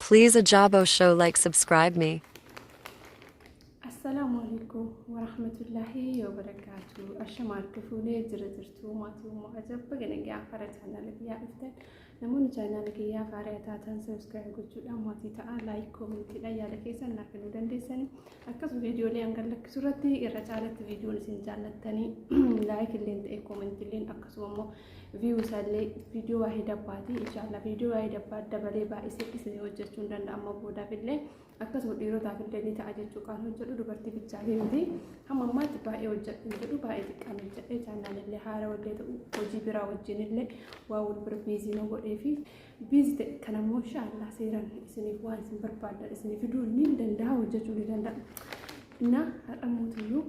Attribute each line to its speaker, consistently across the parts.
Speaker 1: Please Ajabo show like subscribe me. Assalaamu
Speaker 2: alaikum warahmatullahi wabarakatuh. Ashama harka fuunee jira jirtuu maatii ummaa ajabba ganagee afara chaanaala kiyyaa dhuftan namoonni chaanaala kiyyaa afara taatan sabiskiraayib gochuudhaan maatii ta'a laayik koomintiidhaan yaada keessan naaf kennuu dandeessanii akkasuma viidiyoolee hangan lakkisu irratti irra caalatti viidiyoon isin jaallattanii laayik illeen ta'e koominti illeen akkasuma immoo viyuu isaallee viidiyoo waa'ee dabbaati inshaallaa viidiyoo waa'ee dabbaa dabalee baay'isee isinii hojjechuu hin danda'a amma boodaaf illee akkasuma dhiirotaaf illee ni ta'a jechuu kan hojjedhu dubartii bichaa fi miti hamma ammaatti baay'ee hojjedhu hin jedhu baay'ee xiqqaan hojjedhe chaannaan illee haara wallee ta'u hojii biraa wajjin illee waa wal bira biizii na godhee fi biizii ta'e kan ammoo inshaallaa seeraan isiniif waan isin barbaadan isinii fiduu ni danda'a hojjechuu ni danda'a. Innaa har'a mootiyyuu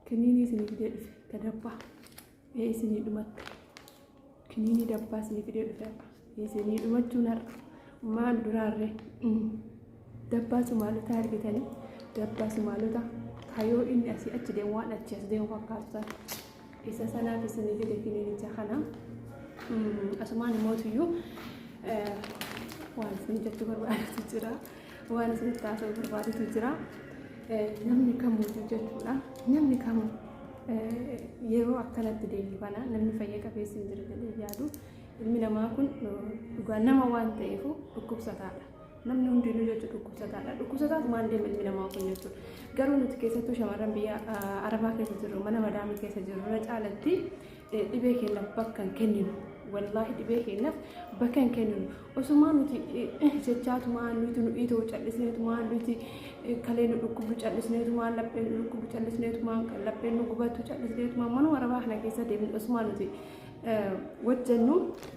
Speaker 2: kiniinii isinii fidee dhufe gadabbaa. Ee isinii dhumatte. Kiniinii dabbaa isinii fidee dhufe har'a. Isinii dhumachuun har'a. Maal duraarree? Dabbaa Sumaalota argitanii? Dabbaa Sumaalota kayoo inni asii achi deemu waan achi as deemu fakkaatu sana. Isa sanaaf isinii fide kiniinicha kana. Asumaan immoo tuyyuu waan isin jechuu barbaadatu jira. Waan isinitti haasa'uu barbaadetu jira. Namni kamuu jechuudha. Namni kamuu yeroo akkanatti deemu kana namni fayya qabeessi hin jiru jedhee yaadu. Ilmi namaa kun dhugaa nama waan ta'eef dhukkubsataadha. Namni hundinuu jechuun dhukkubsataadha. Dhukkubsataatu maal deema ilmi namaa kun jechuudha. Garuu nuti keessattuu shamarran biyya arabaa keessa jirru mana madaamii keessa jirru irra caalatti dhibee keenyaaf bakka hin kenninu. Wallaahi dhibee keenyaaf bakka hin kenninu. Osumaa nuti jechaatumaa nuti nu dhiitoo callisneetumaa nuti kalee nu dhukkubdu callisneetumaa lapheen nu dhukkubdu callisneetumaa lapheen nu gubatu callisneetumaa mana warabaa kana keessa deemnu osumaa nuti wajjannu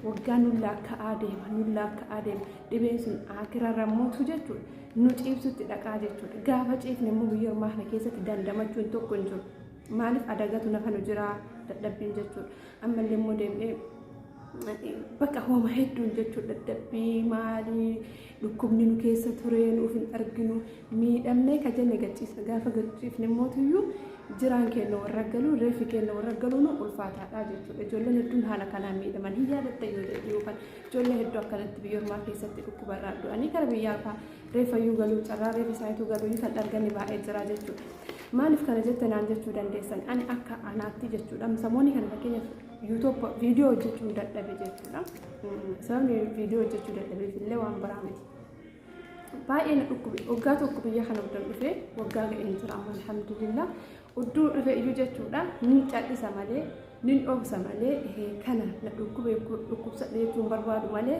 Speaker 2: waggaa nu laakka'aa deema nu laakka'aa deema dhibeen sun akirarra mootu jechuudha nu ciibsutti dhaqaa jechuudha gaafa ciifne immoo biyya ormaa kana keessatti dandamachuun tokko hin jiru maaliif adagatu nafa nu jiraa dadhabbiin jechuudha ammallee immoo deemnee Bakka hooma hedduun jechuun dadhabbii maalii dhukkubni nu keessa ture nuuf hin arginu miidhamnee ka jenne gachiisa gaafa gachiifne mootiyyuu jiraan keenya warra galuu reefi keenya warra galuu nu ulfaataadha jechuudha ijoolleen hedduun haala kanaan miidhaman hin yaadatta yoo jedhu yookaan ijoollee hedduu akkanatti biyya ormaa keessatti dhukkubarraa du'anii gara biyyaa fa'aa reefayyuu galuu carraa reefi isaaniitu galuu kan argame baay'ee jira jechuudha. Maaliif kana jette naan jechuu dandeessan ani akka anaatti jechuudha samoonni kan fakkeenyaaf YouTube viidiyoo hojjechuun dadhabe jechuudha. Sababni viidiyoo hojjechuu dadhabeef illee waan biraa miti. Baay'ee na dhukkube waggaa tokko biyya kana uddan dhufe waggaa ga'ee hin jira amma alhamdulillah udduu dhufe iyyuu jechuudha nin cal'isa malee nin dhoobsa malee kana na dhukkube dhukkubsa dheechuun barbaadu malee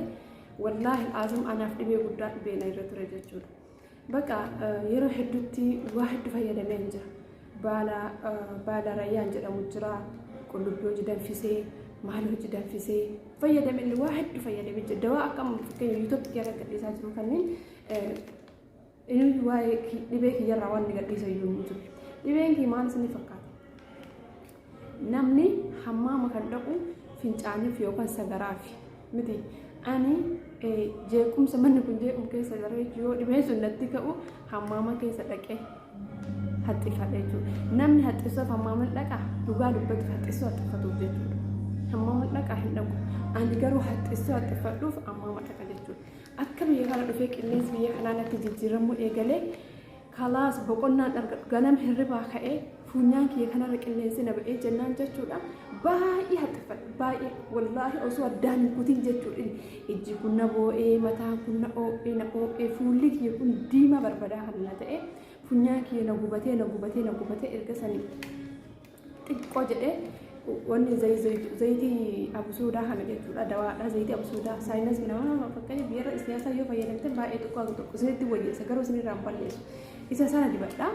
Speaker 2: wallaahi azim anaaf dhibee guddaa dhibee na irra ture jechuudha. Baqa yeroo hedduutti waa heddu fayyadameen jira. Baala baala rayyaan jedhamu jira. Qullubbii hojii danfisee, maal hojii danfisee fayyadameen waa heddu fayyadamee jira. Dawaa akka fakkeenya yuutuubii kiyya irratti gadhiisaa jiru kanneen inni waa'ee dhibee kiyyarraa waan gadhiisa iyyuu hin jiru. Dhibeen kiyya maal isinii fakkaata? Namni hammaama kan dhaqu fincaaniif yookaan sagaraafi miti. Ani jeequmsa manni kun jeeqamu keessa jira jechuun yoo dhibeen sun natti ka'u hammaama keessa dhaqee haxxifadha jechuudha. Namni haxxisuuf hammaama dhaqa dhugaa dubbatu haxxisuu haxxifatuuf jechuudha. Hammaama dhaqa hin dhaqu. Ani garuu haxxisuu haxxifadhuuf hammaama dhaqa jechuudha. Akka biyya kana dhufee qilleensi biyya kanaa natti jijjiiramuu eegalee Kalaas boqonnaan argadhu ganama hirribaa ka'ee fuunyaan kiyya kanarra qilleensi na ba'ee jennaan jechuudha baay'ee haxxiffadhe baay'ee wallaahi osoo addaan hin kutiin jechuudha ijji kun na boo'ee mataan kun na oo'ee na oo'ee fuulli kiyya kun diimaa barbadaa kan na ta'e fuunyaan kiyya na gubatee na gubatee na gubatee erga sanii xiqqoo jedhee wanni zayitii absuudaa kana jechuudha dawaadha zayitii absuudaa saayinas nama fakkeenyaaf yeroo isniyaasaa yoo fayyadamte baay'ee xiqqoo akka tokko isinitti wayyeessa garuu isinirraa hin balleessu isa sana dibadha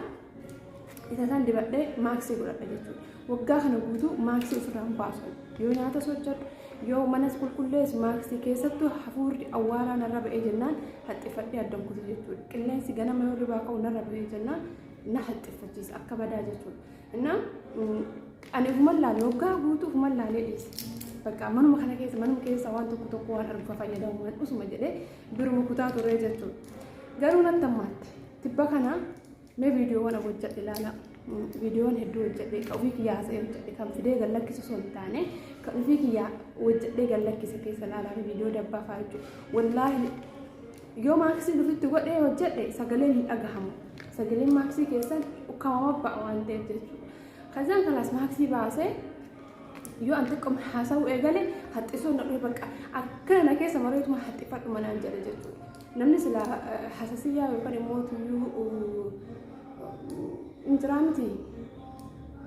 Speaker 2: isa sana dibadhee maaksii godhadha jechuudha waggaa kana guutuu maaksii ofirraa hin baasu yoo nyaata sochadhu yoo manas qulqulleessu maaksii keessattuu hafuurri awwaaraa narra ba'ee jennaan haxxiffadhee addan kutu jechuudha qilleensi ganama yoo irraa ka'u narra ba'ee jennaan na haxxiffachiisa akka badaa jechuudha. እና ani ofuman laale waggaa guutuu ofuman laalee dhiise bakka manuma kana keessa manuma keessa waan tokko tokko waan argu fayyadamu waan usuma jedhee biruma kutaa turee jechuudha garuu natti ammaatti tibba kana mee viidiyoowwan hojjedhe ilaala viidiyoon hedduu hojjedhe ka ofii kiyyaa haasa'ee hojjedhe kan fidee gad lakkisu osoo hin taane ka ofii kiyyaa hojjedhee gad lakkise keessa ilaalaa viidiyoo dabbaa fa'aa jechuudha wallaahi Yoo maaksiin ofitti godhee hojjedhe sagaleen hin dhagahamu. Sagaleen maaksii keessan ukkaamama ba'a waan ta'eef jechuudha. Kazaan kalaas maaksii baasee yoo an xiqquma haasa'uu eegale haxxisuu na dhufe bakka akkana na keessa mareetuma haxxifadhu manaan jedhe jechuudha. Namni sila hasasiyyaa yookaan immoo tuyyuu hin jiraa miti.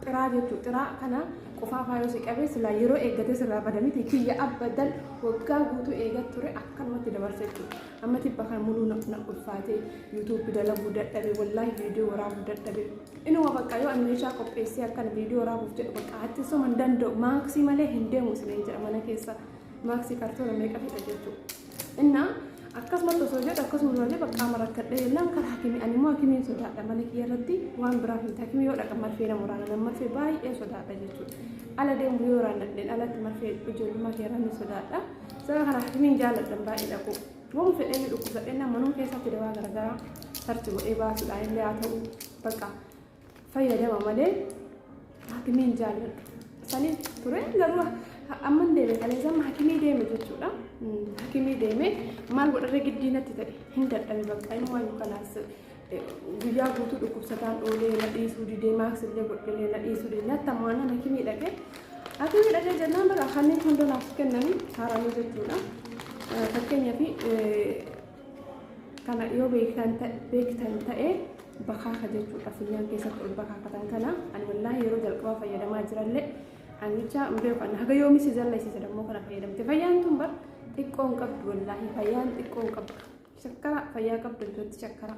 Speaker 2: Xiraa jechu xiraa kana qofaafaa yoo si qabe silaa yeroo eeggatee sirraa bada miti kiyya abbadan waggaa guutuu eegat ture akkanumatti dabarsa jechuudha. Amma tibba kan muluu na na ulfaatee yuutuubbi dalaguu dadhabe wallaahi viidiyoo waraabuu dadhabe. Inuma bakka yoo ani meeshaa qopheessee akkan viidiyoo waraabuuf jedhu bakka haattisuma hin danda'u maaksii malee hin deemu isiniin jedha mana keessa maaksii kartoona meeqa fedha jechuudha. Innaa akkasumatti osoo jedhu akkasuma osoo jedhu qaama rakkadhee jennaan karaa hakimii ani immoo hakimiin sodaadha mana kiyya irratti waan biraa hin hakimii yoo dhaqa marfee nama waraana nama marfee baay'ee sodaadha jechuudha. Ala deemu yoo waraanadheen alatti marfee ijoollummaa kee irraa ni sodaadha. Sababa kana hakimiin jaalladhan baay'ee dhaqu. Waan fedhee dhukkubsadheen manuma keessatti dawaa garaagaraa sarchi godhee baasuudhaan illee haa ta'u bakka fayyadama malee haakimiin jaalladhu sanii ture garuu amman deeme kaleessaan haakimii deeme jechuudha haakimii deeme maal godharra giddii natti ta'e hin dadhabe bakka inni waan kanaas guyyaa guutuu dhukkubsataan oolee na dhiisuu didee maaks illee godhee na dhiisuu didee natti ammoo anaan haakimii dhaqee haakimii dhaqee jennaan bara kanneen hunda naaf kennanii haaranii jechuudha fakkeenyaaf kana yoo beektan ta- beektan ta'e bakaaka jechuudha funyaan keessatti ol bakaakatan kana ani wallaahi yeroo jalqabaa fayyadamaa jirallee anicha hundee kan haga yoomi si zallisiisa dammoo kana fayyadamte fayyaan tun bar xiqqoo hin qabdu wallaahi fayyaan xiqqoo hin qabdu shakkara fayyaa qabdu jechuutti shakkara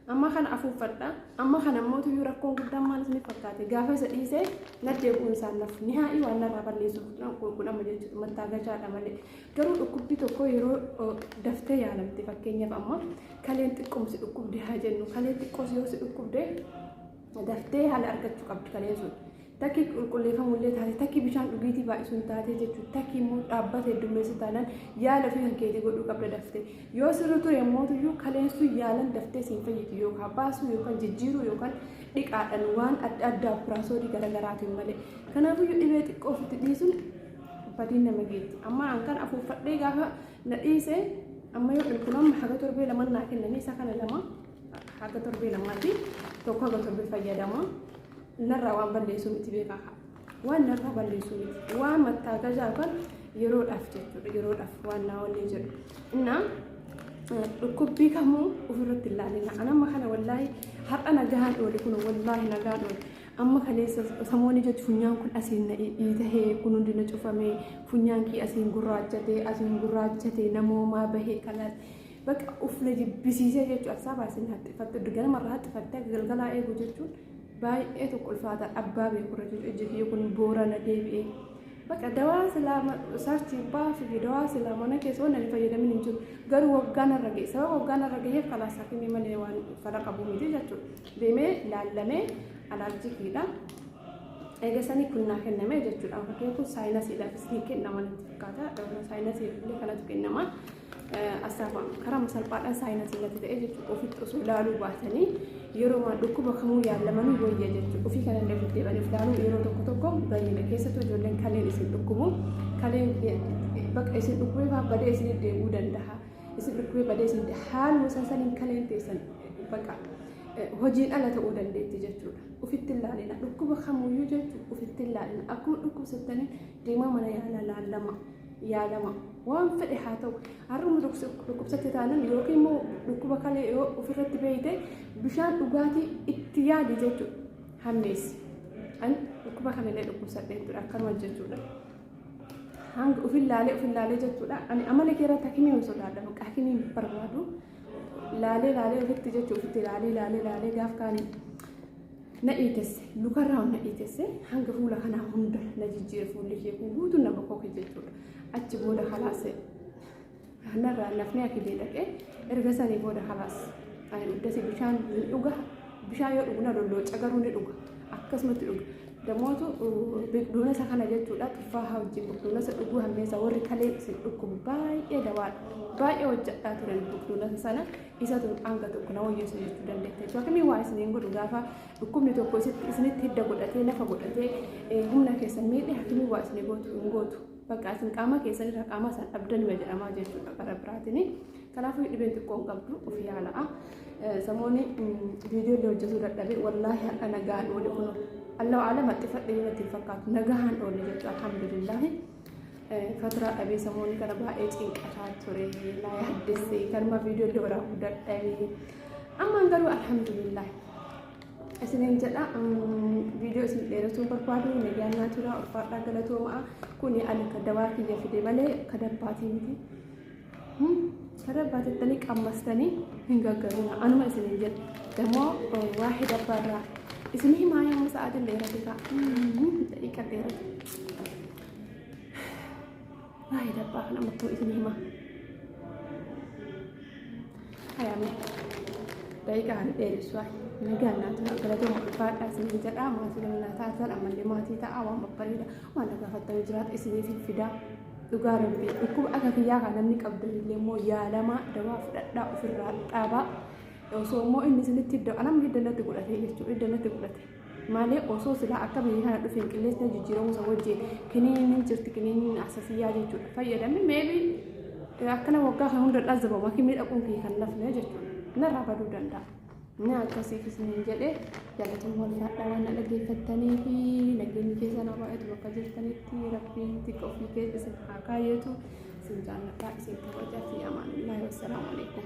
Speaker 2: Amma kana afuuffadha. Amma kana immoo tuyyuu rakkoon guddaan maal isiniif fakkaate? Gaafa isa dhiisee naddee bu'uun isaan nafu. Nihaa'ii waan narraa balleessuuf qulqullama jechuudha. Mattaagachaadha malee. Garuu dhukkubbii tokko yeroo daftee yaalamte fakkeenyaaf amma kaleen xiqqoom si dhukkubde haa jennu. Kalee xiqqoo si yoo si dhukkubde daftee haala argachuu qabdi kaleen sun. Takki qulqulleeffamu illee taate, takki bishaan dhugiitii baay'isu hin taate jechuudha. Takki immoo dhaabbata heddummeessu taanaan yaala ofii kan keetii godhuu qabda daftee. Yoo sirri ture immoo iyyuu kaleessuu yaalan daftee siin fayyiti yookaan baasuu yookaan jijjiiruu yookaan dhiqaadhaan waan adda addaa piraasoodii garaagaraatiin malee. Kanaafuu iyyuu dhibee xiqqoo ofitti dhiisuun badiin nama geetti. Amma an kan afuuffadhee gaafa na dhiise amma yoo dhulkun amma haga torbee lama naa kennanii isa kana lama haga torbee lamaati tokko haga torbee fayyadama. Narraa waan balleessuu miti beekaa kaa. Waan narraa balleessuu miti. Waan mattaa gajaa yookaan yeroodhaaf jechuudha. Yeroodhaaf waan naa wanni jedhu. Innaa dhukkubbii kamuu ofirratti hin laalina. An amma kana wallaahi har'a nagaan oole kun wallaahi nagaan oole. Amma kaleessa samoonni jechuun funyaan kun asiin na dhiitahee kun hundi na cufamee funyaan kee asiin gurraachatee asiin gurraachatee namoomaa bahee kalaas. Bakka ufna jibbisiisee jechuudha. Asaa baasee na haxxifatte. Ganama irraa haxxifattee galgalaa eegu jechuudha. baay'ee tokko ulfaata abbaa beeku irra jiru ijji kiyya kun boorana deebi'e baqa dawaa silaa sarchi baasuu fi dawaa silaa mana keessa waan ani fayyadamin hin jiru garuu waggaan irra ga'e sababa waggaan irra ga'eef kalaas hakimii malee waan fala qabu miti jechuudha deemee laallamee alaarjikiidha eegasanii kun naa kenname jechuudha fakkiin kun saayinasiidhaafis ni kennama natti fakkaata saayinasiif illee kanatu kennama Asaafaam karama salphaadhaan saayinasii natti ta'e jechuudha. Ofitti osoo ilaaluu baatanii yeroo waan dhukkuba kamuu yaalamanii wayya jechuudha. Ofii kana illee ofitti deebanii ilaaluu yeroo tokko tokko bayyina keessattuu ijoolleen kaleen isin dhukkubu kaleen bakka isin dhukkubee fa'aa badee isin deebi'uu danda'a. Isin dhukkubee badee isin haaluma isaan saniin kaleen teessan bakka hojiin ala ta'uu dandeetti jechuudha. Ofitti ilaalina dhukkuba kamuyyuu jechuudha ofitti ilaalina akkuma dhukkubsattanii deemaa mana yaalaa laallama. yaalama waan fedhe haa ta'u har'uma dhukkubsatte taanan yookiin immoo dhukkuba kalee yoo ofirratti beeyte bishaan dhugaatii itti yaali jechuudha hammeessi an dhukkuba kanallee dhukkubsadhe jechuudha akkanuma jechuudha hanga ofin laalee ofin laalee jechuudha ani amala kee irratti hakimii hin sodaadha bakka hakimii hin barbaadu laalee laalee ofitti jechuudha ofitti laalee laalee laalee gaaf kaanii na dhiitesse lukarraa na dhiitesse hanga fuula kanaa hunda na jijjiire fuulli kee kun guutuu na bokoke jechuudha achi booda kalaase narraa nafnee akidee dhaqee erga sanii booda kalaas ani uddasi bishaan ni dhuga bishaan yoo dhugu na lollooca garuu ni dhuga akkasumatti dhuga damootu biqiltuunasa kana jechuudha tuffaa haa wajjin biqiltuunasa dhuguu hammeessa warri kalee isin dhukkubu baay'ee dawaadha baay'ee hojjadhaa turan biqiltuunasa sana isatu hanga tokko na wayyeessu jechuu dandeetta jechuudha. Akkamii waa isiniin godhu gaafa dhukkubni tokko isitti- isinitti hidda godhatee lafa godhatee eh, humna keessan miidhe akkamii waa isinii gootu hin gootu. Bakka isin qaama keessan irra qaama isaan dhabdan ma jedhamaa jechuudha karaa biraatiin. Kanaafuu dhibeen xiqqoo hin qabdu of yaala'a. Eh, Samoonni viidiyoo illee hojjetuu dadhabee wallaahi har'a nagaan oole kun Allahu alam haxxifadhe yoo natti hin fakkaatu nagaan oole jechuudha alhamdulillaahi. Faturaa dhabee samoonni kana baay'ee cinqataa ture naa yaaddessee kanuma viidiyoo illee waraabuu dadhabee ammaan garuu alhamdulillah isiniin jedha viidiyoo isin dheeressuu barbaadu miidiyaan naa tura ulfaadhaa galatoomaa kuni ani kadawaa kiyya fide malee kadabbaatii miti. Saree abbaa jettanii qammastanii hin gaggarina. Anuma isin hin jedhu. Dammoo waa hidabba irraa. Isin himaa yommuu sa'aatiin dheerate ta'a. Daqiiqa dheerate. Waa hidabba kana ammattoo isin himaa. Hayaame. Daqiiqa ani dheeressu ayi. Nagaan naa tura. Galatooma ulfaadhaa isin hin jedhaa. Maatii bal'aa taatan ammallee maatii ta'a. Waan babbareeda. Waan na gaafattanii jiraata isiniif hin fidaa. dhugaa rabbii dhukkuba akka kiyyaa kan namni qabdan illee immoo yaalamaa dawaa fudhadhaa ofirraa dhaabaa osoo immoo inni isinitti idda anam idda natti godhate jechuudha idda natti godhate malee osoo silaa akka biyya kana dhufe hin qilleessi na jijjiiramuu isa wajjin kiniiniin jirti kiniiniin asasiyyaa jechuudha fayyadamni meebii akkana waggaa kan hunda dhazzabama kimii dhaquun kiyya kan nafne jechuudha narraa baduu danda'a. Naa akkasiif isiniin jedhe jaalatuma walfaadhaa waan na dhaggeeffattanii fi nageenyi keessa na baay'atu bakka jirtanitti rabbiin xiqqa ofii keessa isin haa kaayyatu isin jaalladhaa isin kabajaa fi amaanillaahi wassalaamu alaikum.